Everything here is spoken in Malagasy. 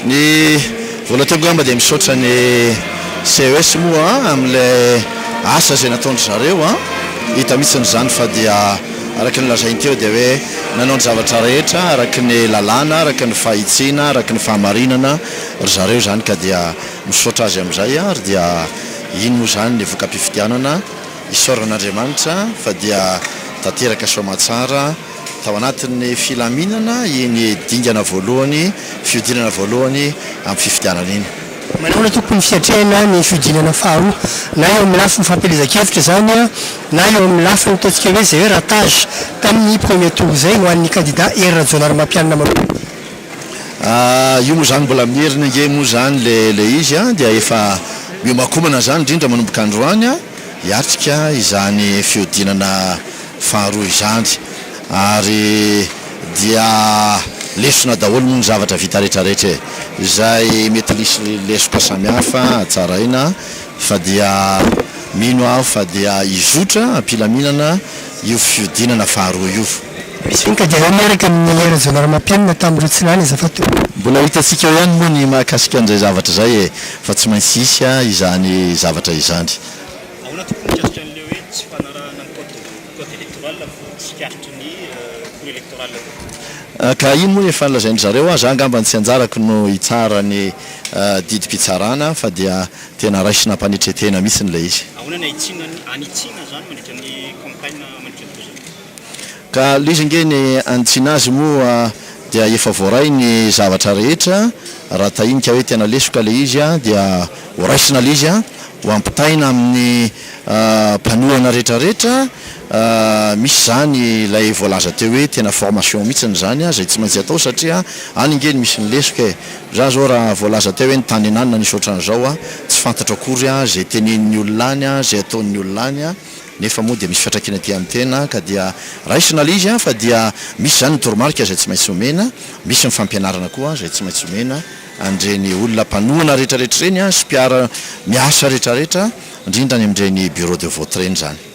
Ny voalohany atao angamba dia misaotra ny CES moa amin'ilay asa izay nataon-dry zareo an! Hita mihitsy izany fa dia araka ny lazainy teo dia hoe nanao ny zavatra rehetra araka ny lalàna, araka ny fahitsiana, araka ny fahamarinana ry zareo izany ka dia misaotra azy amin'izay ary dia iny moa izany ny voka-pifidianana. Isaorana an'Andriamanitra fa dia tanteraka soamatsara tao anatin'ny filaminana iny dingana voalohany, fihodinana voalohany amin'ny fifidianana iny. Manahoana tokony ny fiatrehana ny fihodinana faharoa, na eo amin'ny lafiny fampielezan-kevitra izany, na eo amin'ny lafiny ataontsika hoe zeratage tamin'ny premier tour izay ho an'ny kandida Hery Rajaonarimampianina manontolo? Ah io moa zany mbola mieriny ange moa zany le le izy an dia efa miomakomana zany indrindra manomboka androany an hiatrika izany fihodinana faharoa izany ary dia lesona daholo moa ny zavatra vita rehetra rehetra e! izay mety lisy lesoka samihafa tsaraina fa dia mino aho fa dia hizotra am-pilaminana io fihodinana faharoa io. Misy vinta dia eo miaraka amin'i Rajaonarimampianina tamin'ireo tsy lany aza fa toa. Mbola hitantsika ao ihany moa ny mahakasika an'izay zavatra izay e, fa tsy maintsy hisy izany zavatra izany. Ahoana tokoa ny mikasika an'ilay hoe tsy fanarahana ny code code electoral vao tsikaritry ny cour electoral aloha? Ka iny moa efa nolazain-dry zareo aza, angamba ny tsy anjarako no hitsara ny didim-pitsarana fa dia. Tena raisina am-panetren-tena mihitsy ilay izy. Ahoana ny hanitsiana ny hanitsiana izany mandritra ny campagne mandritra ny voazotra? Ka ilay izy ange ny hanitsiana azy moa dia efa voaray ny zavatra rehetra, raha tahinika hoe tena lesoka ilay izy dia ho raisina ilay izy, ho ampitaina amin'ny mpanohana rehetra rehetra, Misy izany ilay voalaza teo hoe tena formation mihitsiny izany izay tsy maintsy atao satria any nge no misy ny lesoka e! Za izao raha voalaza teo hoe ny tany ananona nisy ohatran'izao a, tsy fantatro akory a, izay tenenin'ny olona any a, izay ataon'ny olona any a, nefa moa dia misy fiantraikany aty amin'ny tena ka dia raisina ilay izy a! Fa dia misy izany ny toromarika izay tsy maintsy omena, misy ny fampianarana koa izay tsy maintsy omena an'ireny olona mpanohana rehetrarehetra ireny a, sy mpiara miasa rehetrarehetra, indrindra any amin'ireny bureau de vote ireny izany.